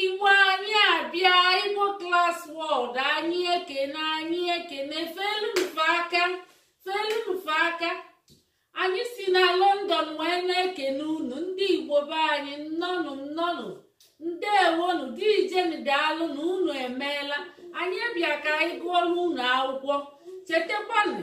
igbo anyị abịa igbo class world anyị ekene anyị ekene feelu m fa aka feelu m fa aka anyị si na london wee na-ekene unu ndị igbo be anyị nnọnụ nnọnụ ndewonu dijeni daalụnụ unu emeela anyị bịa ka anyị gụọlụ unu akwụkwọ chetakwanụ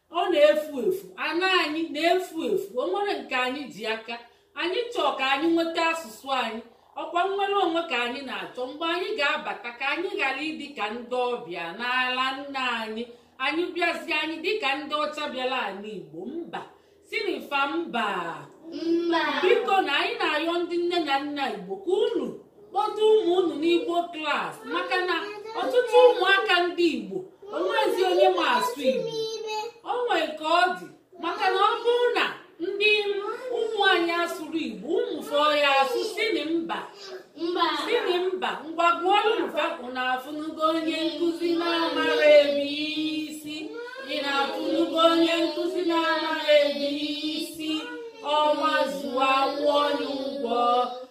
ọ na-efu efu ana anyị na-efu efu o nwere nke anyị ji aka anyị chọọ ka anyị nweta asụsụ anyị ọkwa nnwere onwe ka anyị na-achọ mgbe anyị ga-abata ka anyị ghara ịdị ka ndị ọbịa n'ala nna anyị anyị bịazie anyị dịka ndị ọcha bịara ala igbo mba sịnị fa mba mba bikonụ anyị na-ayọ ndị nne na nna igbo ka unu kpọta ụmụ unu n'igbo class maka na ọtụtụ ụmụaka ndị igbo o nwezi onye ma asụ igbo o nwere ka ọ dị maka na ọ bụrụ na ndị ụmụ anyị asụrọ igbo ụmụ fa ọ ya-asụ sịnị mba sịnị mba ngwa gụọlụ m fa unu afụnugo onye nkụzi na-amarọ abc unu afụnugo onye nkụzi na-amarọ abc ọnwa zuo a kwụọ ya ụgwọ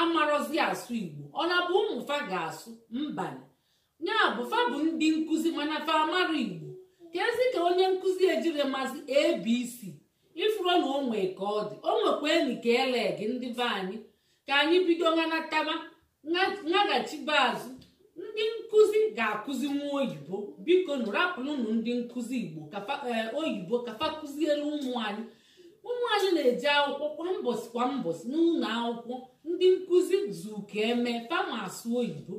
amarọzi asụ igbo ọ na bụ ụmụ fa ga-asụ mbanụ ya bụ fa bụ ndị nkụzi mana fa amarọ igbo keezi ka onye nkụzi ejiri mazi abc ị fụrọ na o nwe ka ọ dị o nwekwa enyi ka ele gị ndị be anyị ka anyị bido ngwa nataba naghachibe azụ ndị nkụzi ga-akụzinwu oyibo bikonụ rapụlụnụ ndị nkụzi igbo eh, oyibo ka fa kụzielu ụmụ anyị ụmụ anyị na-eje akwụkwọ kwa mbọsị kwa mbọsị n'ụlọ akwụkwọ ndị nkụzi zuka eme fa ma asụ oyibo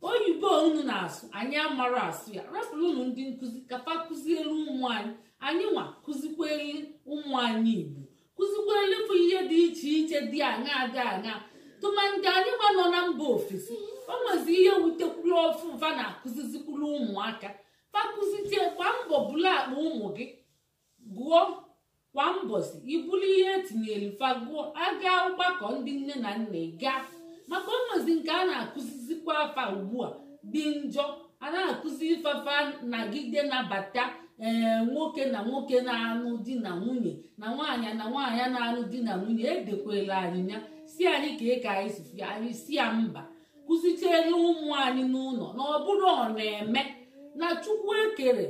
oyibo unu na-asụ anyị amarọ asụ ya rapụlụnụ ndị nkụzi ka fa kụzielu ụmụ anyị anyị nwa kụzikweli ụmụ anyị igbo kụzikweli fa ihe dị iche iche dị aṅa dị aṅa tụmadị anyị nwa nọ na mba ofesi o nwezi ihe wutekwuru ọfụụ fa na-akụzizikwuru ụmụaka fa kụzisie kwa mbọsị bulu akpa ụmụ gị gụọ kwa mbọsị i bulu ihe etinyere fa gụọ a gaa ọgbakọ ndị nne na nna ị gaa maka o nwezi nke a na-akụzizikwaa fa ugbu a dị njọ a na-akụzi fa fa nagide nabata ee nwoke na nwoke na-anụ di na nwunye na nwaanyị na nwaanyị na-anụ di na nwunye edekwela anyị ya sị anyị kee ka anyị si fụ ya anyị sị ya mba kụzichiere ụmụ anyị n'ụlọ na ọ bụrọ ọ na-eme na chukwu ekerọ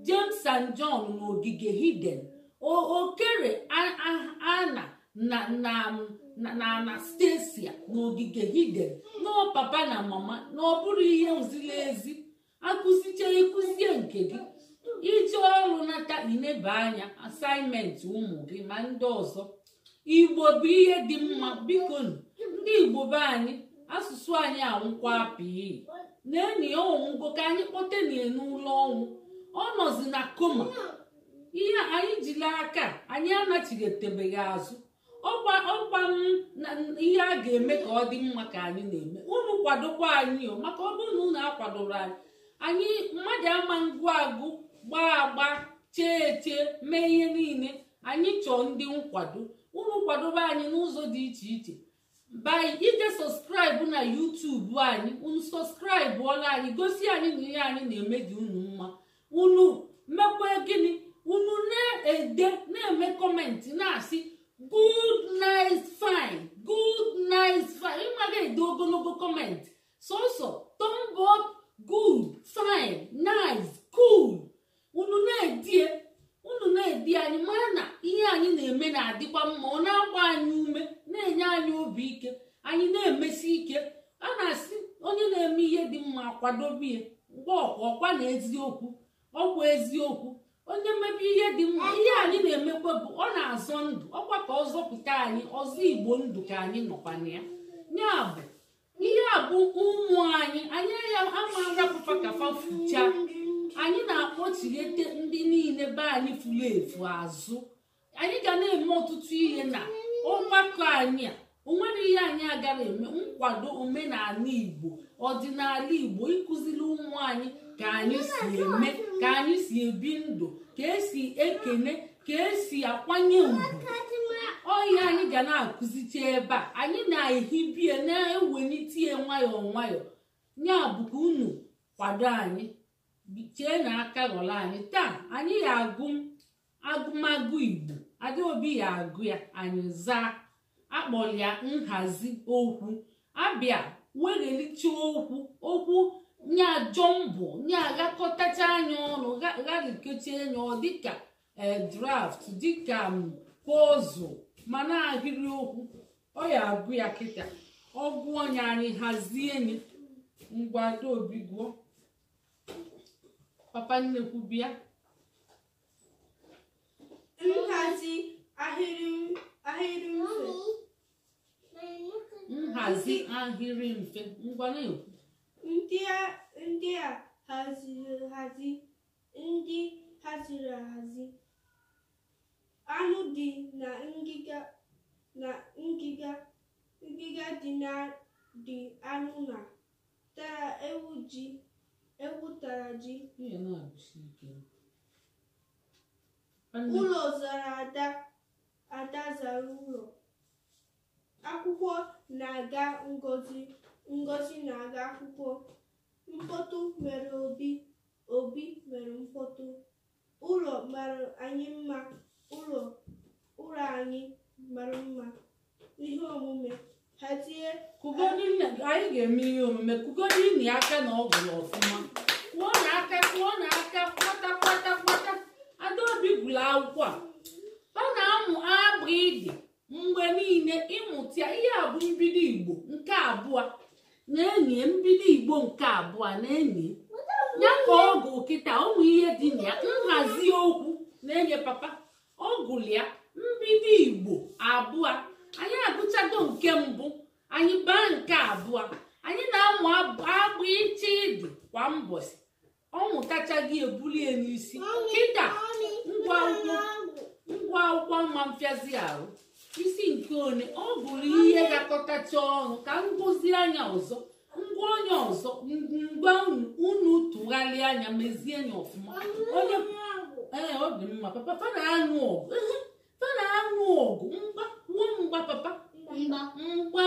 James and John n'ogige Eden o kerọ Ana na na na Anastasia n'ogige Eden n'ọ papa na mama na ọ bụrọ ihe ziri ezi a kụzichaa ị kụzie nke gị i je ọrụ nata i neba anya assignment ụmụ gị ma ndị ọzọ igbo bụ ihe dị mma bikonụ ndị igbo be anyị asụsụ anyị anwụkwa pii na enyi ya ọ nwụgo ka anyị kpọtenie n'ụla ọnwụ ọ nọzi na koma ihe anyị jiri aka anyị anachighetebe ya azụ ọkwa ihe a ga-eme ka ọ dị mma ka anyị na-eme unu kwadokwa anyị maka ọ bụrụ na unu akwadoro anyị anyị mmadụ ama ngụ agụ gbaa agba chee eche mee ihe niile anyị chọọ ndị nkwado unu kwadobe anyị n'ụzọ dị iche iche by ije subscribe na youtube anyị unu subscribe ọla anyị gosi anyị na ihe anyị na-eme dị unu mma unu mekwa gịnị unu na-ede na-eme comment na-asị good nice fine good nice fine ị maga ede ogologo comment sọsọ thumb up good fine nice cool unu na-edie unu na-edie anyị mara na ihe anyị na-eme na-adịkwa mma ọ na-agba anyị ume na-enye anyị obi ike anyị na-emesi ike a na-asị onye na-eme ihe dị mma a kwadobe ya mgbe ọkwa ọkwa na eziokwu ọkwa eziokwu onye mebe ihe dị mma ihe anyị na-emekwa bụ ọ na-azọ ndụ ọkwa ka ọ zọpụta anyị ịzọ igbo ndụ ka anyị nọkwa na ya ya bụ ihe a bụ ụmụ anyị anyị ya ama arapụ fa ka fa fucha anyị na-akpọchighete ndị niile be anyị furu efu azụ anyị ga na-eme ọtụtụ ihe na ọgbakọ anyị a o nwero ihe anyị agaro eme nkwado omenala igbo ọdịnala igbo ịkụziri ụmụ anyị ka anyị si eme ka anyị si ebi ndụ ka e si ekene ka e si akwanye ugwu ọ ihe a anyị ga na-akụzicha ebe a anyị na-ehibie na-ewelite ya nwayọọ nwayọọ ya bụ ka unu kwado anyị chee na aka ghọrọ anyị taa anyị ya agụ agụmagụ igbo adaobi ya agụ ya anyị zaa a kpọrọ ya nhazi okwu a bịa weghelite okwu okwu nyaa jumble nya aghakọtachaa nya ọnụ gharikechaa nya ọ dịka eh, draft dịka mm, puzzle mana ahịrị okwu ọ ya agụ ya kịta ọ gụọ ya anyị hazie nye ngwa adaobi gụọ papa nnekwu bịa nhazi ahịrị ahịrị mfe nhazi ahịrị mfe ngwa na-ekwu ndị a ndị a haziri hazi ndị haziri ahazi anụ dị na ngịga na ngịga ngịga dị na dị anụ na tara ewu ji ewu tara ji ihe na-agụsi ike Nwanne- ụlọ zara ada ada zara ụlọ akwụkwọ na-aga ngozi ngozi na-aga akwụkwọ mkpọtụ mere obi obi mere mkpọtụ ụlọ mara anyị mma ụlọ ụlọ anyị mara mma ihe omume hazie kụgodi nụ anyị ga-eme ihe omume kụgodi nụ ya aka na ọ gụrụ ọfụma kụọ nụ aka kụọ nụ aka kwata kwata kwata adaobi gụrụ akwụkwọ a ọ na-amụ abịdị mgbe niile ịmụta ya ihe a bụ mbido igbo nke abụọ nee nụ ya mbido igbo nke abụọ nee nụ ya ka ọ gụ kịta ụmụ ihe dị na ya nhazi okwu nee nụ ya papa ọ gụrụ ya mbido igbo abụọ anyị agụchago nke mbụ anyị baa nke abụọ anyị na-amụ abịchịdị kwa mbọchị ọ mụtachago ya ebuli ya n'isi kịta ngwa akwụkwọ ngwa akwụkwọ mma mfịazi ahụ isi nke one ọ bụrụ ihe gakọtacha ọnụ ka m gụzịa nya ọzọ ngwa onye ọzọ ngwa unu unu tụgharịa nya mezie nya ọfụma onye ee ọ dị mma papa fa na-anụ ọgụ ehe, fa na-anụ ọgụ mgba nwa mgba papa mgba mgba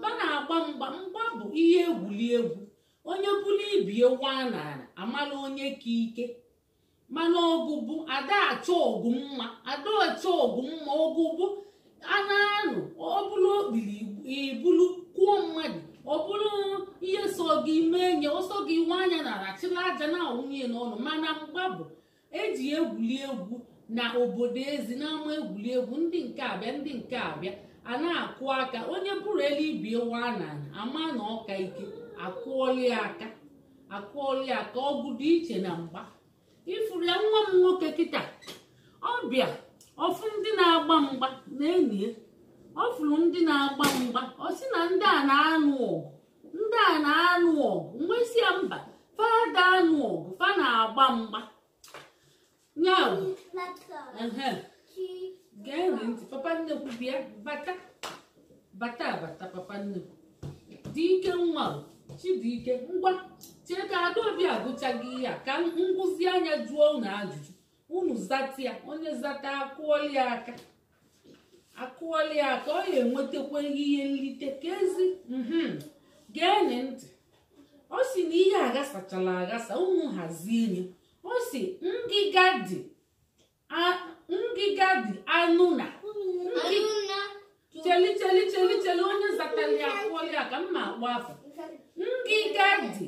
fa na-agba mgba mgba bụ ihe egwuri egwu onye buru ibe ya waa n'ana a mala onye ka ike mana ọgụ bụ a da achọ ọgụ mma a da achọ ọgụ mma ọgụ bụ a na-anụ ọ bụrụ okpiri i bulu kụọ mmadụ ọ bụrụ ihe sọ gị mee nya ọ sọ gị waa nya n'ana chịlị aja na-awụnye n'ọnụ mana mgba bụ e ji egwuli egwu na obodo ezi n'ama egwuli egwu ndị nke a bịa ndị nke a bịa a na-akụ aka onye buru elu ibe ya waa n'ana a maa na ọ ka ike a kụọlị ya aka a kụọlị ya aka ọgụ dị iche na mgba ị fụrụ ya nwa m nwoke kịta ọ bịa ọ fụ ndị na-agba mgba nee nụ ya ọ fụrụ ndị na-agba mgba ọ sị na ndị a na-anụ ọgụ ndị a na-anụ ọgụ m wee sị ya mba fa ada anụ ọgụ fa na-agba mgba ya bụ ehe, gee nụ ntị papa nnekwu bịa bata bata bata papa nnekwu dike nwa o, chidike ngwa chee ka adaobi agụchago ihe a ka m gụzịa nya jụọ unu ajụjụ unu zata ya onye zata a kụọlị ya aka akụọla ya aka ọ ya enwetakwa ihe nlite ka ezi mhm. geenị ntị ọ si na ihe aghasachala aghasa unu hazie nye ọ si ngịga dị ngịga dị anụ na cheli cheli cheli cheli onye zatara ya akụọla ya aka m ma akpọ afa ngịga dị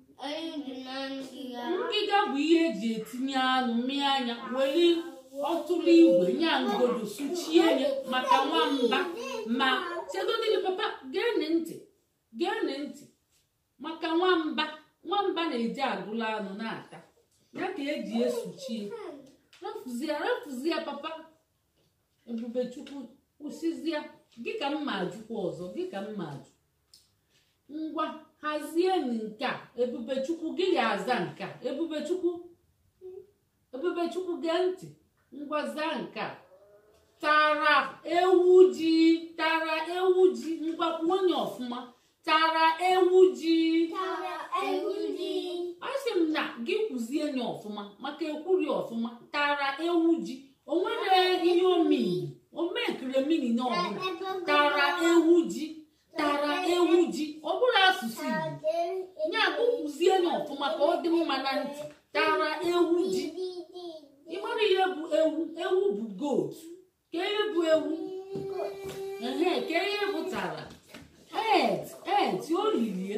Anụ dị na ngịga. ngịga bụ ihe eji etinye anụ mịa nya weli ọtụrụ igwe nya ngodo suchie ya maka nwamba ma chegodịrị papa geenị ntị geenị ntị maka nwamba nwamba na-eji agụla anụ na-ata ya ka eji esuchie rafuzie rafuzie papa ebubechukwu kwụsịzie gị ka m ma ajụkwa ọzọ gị ka m ma ajụ ngwa hazie nke a ebubechukwu gị ya aza nke a ebubechukwu ebubechukwu gee ntị ngwa zaa nke a tara ewu ji tara ewu ji ngwa kwuo nye ọfụma tara ewu ji tara ewu ji asị m na gị kwuzie nye ọfụma maka ekwuri ọfụma tara ewu ji o nwere ihe ọ meanị o mekere meaning na ọ bụla tara ewu ji tara ewu ji ọ bụrụ asụsụ igbo nya kwuzie nye ọfụma ka ọ dị mma na ntị tara ewu ji ịmara ihe bụ ewu ewu bụ goat kee ihe bụ ewu ehe kee ihe bụ tara ate ate o lilie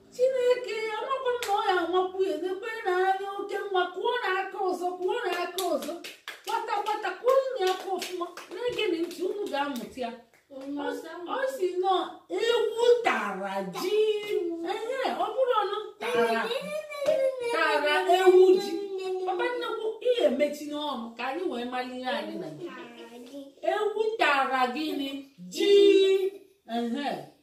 chineke amakwa m na ọ ya amakwu ya n'ebe na anya oke mma kụọ na aka ọzọ kụọ na aka ọzọ kwata kwata kụọ nye aka ọfụma na-egenị ntị unu ga-amụta ya ọ si na ọ ewu tara ji ehe ọ bụrọ nụ tara tara ewu ji papa na-ekwu ihe mechinụ ọnụ ka anyị wee mara ihe anyị na ewu tara gịnị ji ehe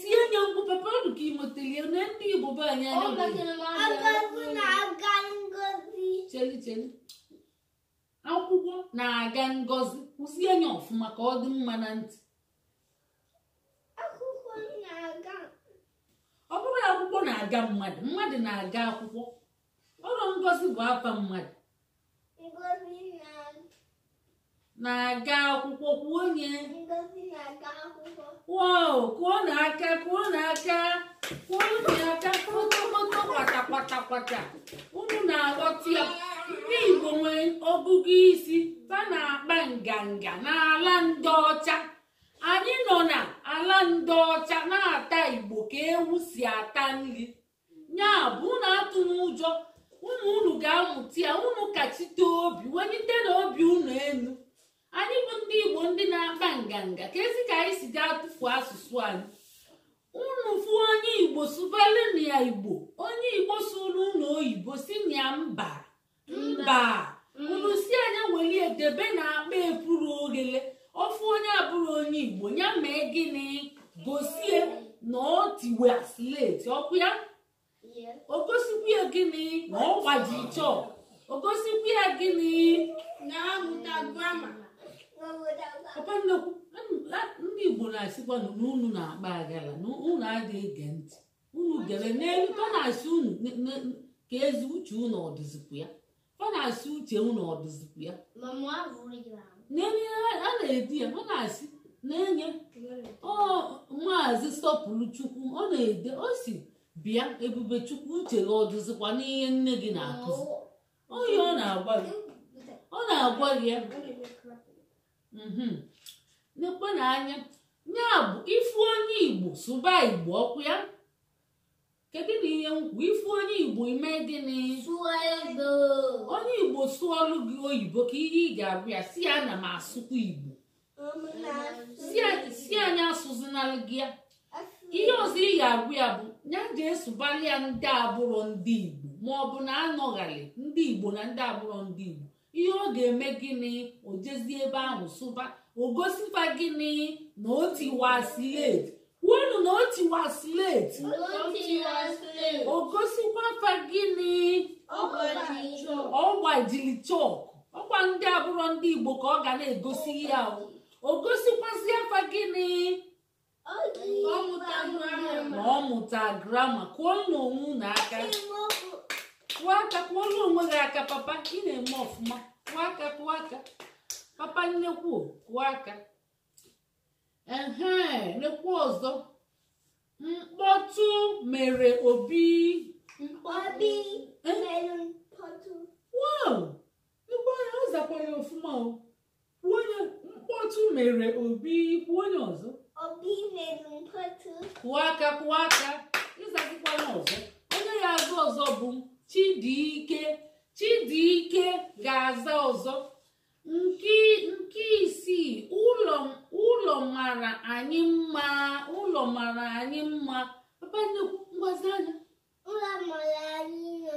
tie nye mkpu papa ọ dụ ka ị mụtali ya na ndị igbo be anyị anya chelu chelu akwụkwọ na-aga ngozi kwuzie nye ọfụma ka ọ dị mma na ntị ọ bụrọ akwụkwọ na-aga mmadụ mmadụ na-aga akwụkwọ ọ rọ ngozi bụ afa mmadụ na-aga akwụkwọ kwuo nye wow kụọ na aka kụọ na aka kụọ na aka kpọtọkpọtọ kwata kwata kwata unu na-aghọta ya ndị igbo nwere ọgụgụ isi fa na-akpa nganga n'ala ndị ọcha anyị nọ na ala ndị ọcha na-ata igbo ka ewu si ata nri ya bụ unu atụna ụjọ ụmụ unu ga-amụta ya unu kachite obi welitenụ obi unu elu anyị bụ ndị igbo ndị na-akpa nganga keezi ka anyị si ga-atụfu asụsụ anyị unu fụ onye igbo sụbalụnụ ya igbo onye igbo sụọrụ unu oyibo sịnụ ya mba mba unu sị a nya welie debe n'akpa epuru oghele ọ fụ onye abụrọ onye igbo ya mee gịnị gosie na o tiwa sleti ọkwa ya o gosikwa ya gịnị na ọ gbaji chọk o gosikwa ya gịnị na ọ mụta grama papa nnekwu ndị igbo na-asịkwa na unu na-akpa aghala na unu adịghị ege ntị unu gerenụ ihe fa na-asị unu ne- ne- keezi uche unu ọ dịzikwa ya fa na-asị uche unu ọ dịzikwa ya n'ihe a na-ede ya a na-asị n'ihe ọ maazị sọpụrụchukwu ọ na-ede ọ sị bịa ebubechukwu uche gị ọ dịzikwa n'ihe nne gị na-akụzi onye ọ na-agwa gị ọ na-agwa gị ya mhm. nekwenụ anya ya bụ ị fụ onye igbo sụba igbo ọkwa ya kedụnụ ihe m kwu ị fụ onye igbo i mee gịnị onye igbo sụọlụ gị oyibo kee ihe ị ga-agwa ya sị ya na m asụkwa igbo sị ya nya asụzinalụ gị ya ihe ọzọ ị ga-agwa ya bụ ya je sụbalị ya ndị abụrọ ndị igbo ma ọ bụ na a nọghalị ndị igbo na ndị abụrọ ndị igbo ihe ọ ga-eme gịnị o jezie ebe ahụ sụba o gosi fa gịnị na o tiwa slate kwuonụ na o tiwa slate o gosikwa fa gịnị ọ gbajili chọk ọkwa ndị abụrọ ndị igbo ka ọ ga na-egosi ya o gosikwazịa fa gịnị na ọ mụta grama kụọnụ onwe unu aka kụọ aka kụọlụ onwe gị aka papa ị na-eme ọfụma kụọ aka kụọ aka papa nnekwu kụọ aka ehe nekwu ọzọ mkpọtụ mere obi obi mere mkpọtụ wow igbo ya ọ zakwara ya ọfụma o Kwuo onye mkpọtụ mere obi kwuo onye ọzọ obi mere mkpọtụ kụọ aka kụọ aka azazikwana ọzọ onye ga-aza ọzọ bụ Chidiike Chidiike ga-aza ọzọ nke nke isii ụlọ ụlọ mara anyị mma ụlọ mara anyị mma papa nnekwu gwazị anyị ụlọ mara anyị nọ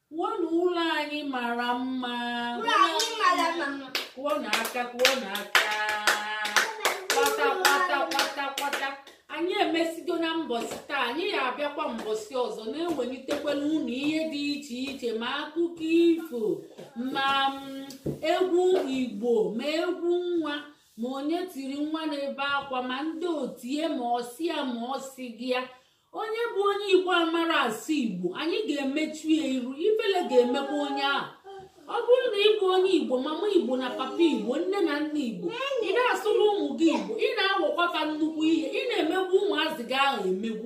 Kwuonụ ụlọ anyị mara mma. Ụlọ anyị mara mma. Kụọnụ aka, kụọnụ aka. Kwata, kwata, kwata, kwata. Anyị emesigo na mbọsị taa, anyị ya abịakwa mbọsị ọzọ na-ewelitekwala unu ihe dị iche iche ma akụkọ ifo ma mm, egwu Igbo ma egwu nwa ma onye tiri nwa na-ebe akwa ma ndị otie ma ọ sị ya ma ọ sịghị ya onye bụ onye igbo amara asụ igbo anyị ga-emechu ya iru ifele ga-emekwa onye ahụ ọ bụrụ na ị bụ onye igbo mama igbo na papa igbo nne na nna igbo ị na-asụrụ ụmụ gị igbo ị na-awọkwa fa nnukwu ihe ị na-emegbu ụmụazị gị ahụ emegbu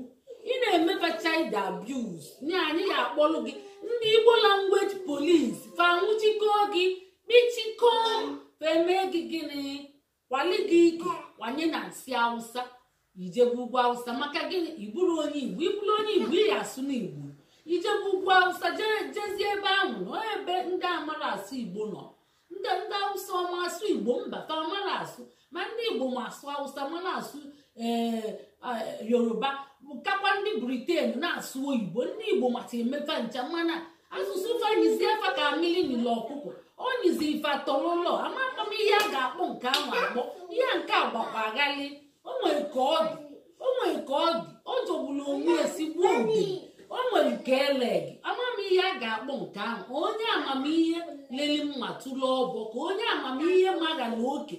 ị na-eme fa child abuse nye anyị ga-akpọrọ gị ndị igbo language police fa nwụchikọọ gị kpichikọọ fa emee gị gịnị kwali gị ike kwanye na nsị awụsa i jebe ugwu awụsa maka gịnị ị bụrụ onye igbo ị bụrụ onye igbo ị ya asụnụ igbo i jebe ugwu awụsa jezie ebe ahụ na ebe ndị amara asụ igbo nọ ndị ndị awụsa ọ ma asụ igbo mba fa amara asụ ma ndị igbo ma asụ awụsa ma na-asụ ee yoruba kakwa ndị briten na-asụ oyibo ndị igbo mata eme fa ncha mana asụsụ fa nyizie fa ka mamịrị nyili ọkụkọ o nyizie fa atọlụlọ amakwa m ihe a ga-akpọ nke ahụ akpọ ihe nke a gbakwa aghalị o nwere ka ọ dị o nwere ka ọ dị ọ jọgburu onwe ya sigbuo udene o nwere ka e lee gị ama m ihe a ga-akpọ nke ahụ onye amamihe leli mma tụrụ ọbọ ka onye amamihe magala oke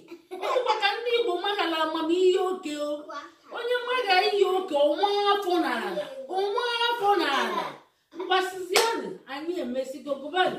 ọ kwa ka ndị igbo magala amamihe oke o onye maga ihe oke ọ waa afọ n'ala ọ waa afọ n'ala mgbasizianụ anyị emesigo gụbanụ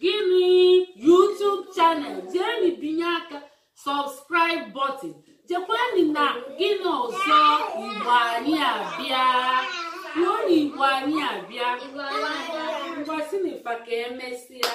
jeeni YouTube channel jeeni binye aka subscribe button jekwani na gị na ọzọ igbo anyị abịa ruo na igbo anyị abịa ngwasị na ifa ka emesịa